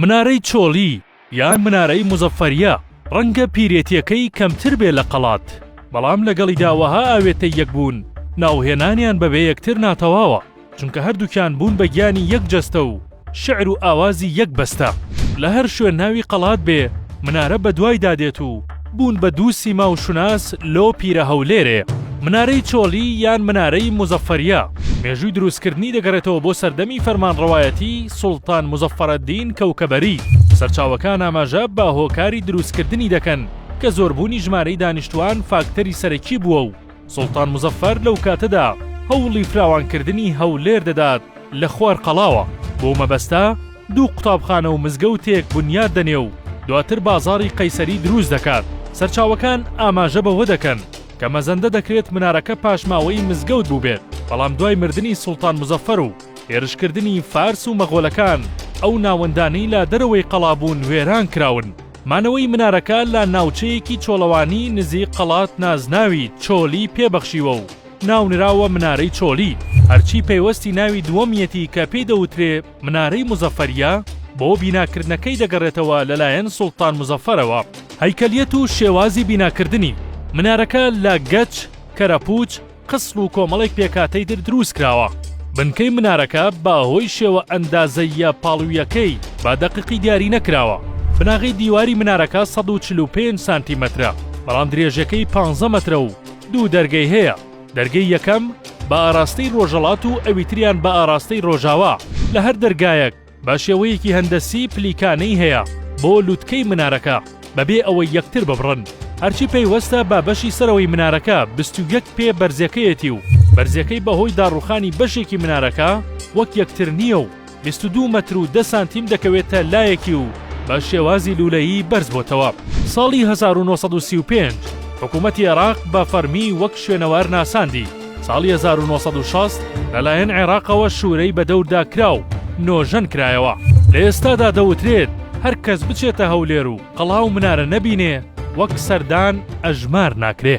منارەی چۆڵی یان منارەی موزەفەریە ڕەنگە پیرێتیەکەی کەمتر بێ لە قەڵات بەڵام لەگەڵیدا وەها ئاوێتەی یەک بوون ناوهێنانیان بەبێ یەکتر ناتەواوە چونکە هەردووکیان بوون بە گیانی یەک جەستە و شعر و ئاوازی یەک بەستە لە هەر شوێن ناوی قەڵات بێ منارە بەدوایدا دێت و بوون بە دوو سیما و شوناس لۆ پیرە هەولێرێ، منارەی چۆلی یان منارەی موزەفەریە. مێژووی دروستکردنی دەگەڕێتەوە بۆ سەردەمی فەرمانڕەوایەتی سوڵتان موزەفەرەدین کەوکەبەری. سەرچاوەکان ئاماژە بە هۆکاری دروستکردنی دەکەن کە زۆربوونی ژمارەی دانیشتووان فاکتەری سەرەکی بووە و، سوڵتان موزەفەر لەو کاتەدا هەوڵی فراوانکردنی هەولێر دەدات لە خوارقەڵاوە، بەو مەبەستە دوو قوتابخانە و مزگەوتێک بنیات دەنێ و دواتر بازاڕی قەیسەری دروست دەکات، سەرچاوەکان ئاماژە بەوە دەکەن کە مەزەندە دەکرێت منارەکە پاشماوەی مزگەوت بووبێت، بەڵام دوای مردنی سوڵتان موزەفەر و هێرشکردنی فارس و مەغۆلەکان ئەو ناوەندانەی لە دەرەوەی قەڵا بوون وێران کراون. مانەوەی منارەکە لە ناوچەیەکی چۆڵەوانی نزیک قەڵات نازناوی چۆلی پێ بەخشیوە و ناونراوە منارەی چۆلی، هەرچی پەیوەستی ناوی دووەمیەتی کە پێی دەوترێ منارەی موزەفەریە بۆ بیناکردنەکەی دەگەڕێتەوە لەلایەن سوڵتان موزەفەرەوە. هەیکەلیەت و شێوازی بیناکردنی، منارەکە لە گەچ، کەرەپوچ، قسڵ و کۆمەڵێک پێکهاتەی تر دروست کراوە. بنکەی منارەکە بە هۆی شێوە ئەندازەییە پاڵوییەکەی بە دەققی دیاری نەکراوە. بناغەی دیواری منارەکە سەد و چل و پێنج سانتیمەترە، بەڵام درێژەکەی پانزە مەترە و دوو دەرگەی هەیە، دەرگەی یەکەم بە ئاراستەی ڕۆژەڵات و ئەویتریان بە ئاراستەی ڕۆژاوا، لە هەر دەرگایەک، بە شێوەیەکی هەندەسی پلیکانەی هەیە بۆ لوتکەی منارەکە بەبێ ئەوەی یەکتر ببڕن، هەرچی پەیوەستە بە بەشی سەرەوەی منارەکە بیست و یەک پێ بەرزەکەیەتی و بەرزەکەی بەهۆی داڕوخانی بەشێکی منارەکە وەک یەکتر نییە و بیست و دوو مەتر و دە سانتیم دەکەوێتە لایەکی و بە شێوازی لوولەیی بەرز بۆتەوە. ساڵی هەزار و نۆ سەد و سی و پێنج حکوومەتی عێراق بە فەرمی وەک شوێنەوار ناساندی. ساڵی هەزار و نۆ سەد و شەست لەلایەن عێراقەوە شوورەی بە دەوردا کرا و نۆژەن کرایەوە. لە ئێستادا دەوترێت هەر کەس بچێتە هەولێر و قەڵا و منارە نەبینێ، وەک سەردان ئەژمار ناکرێ.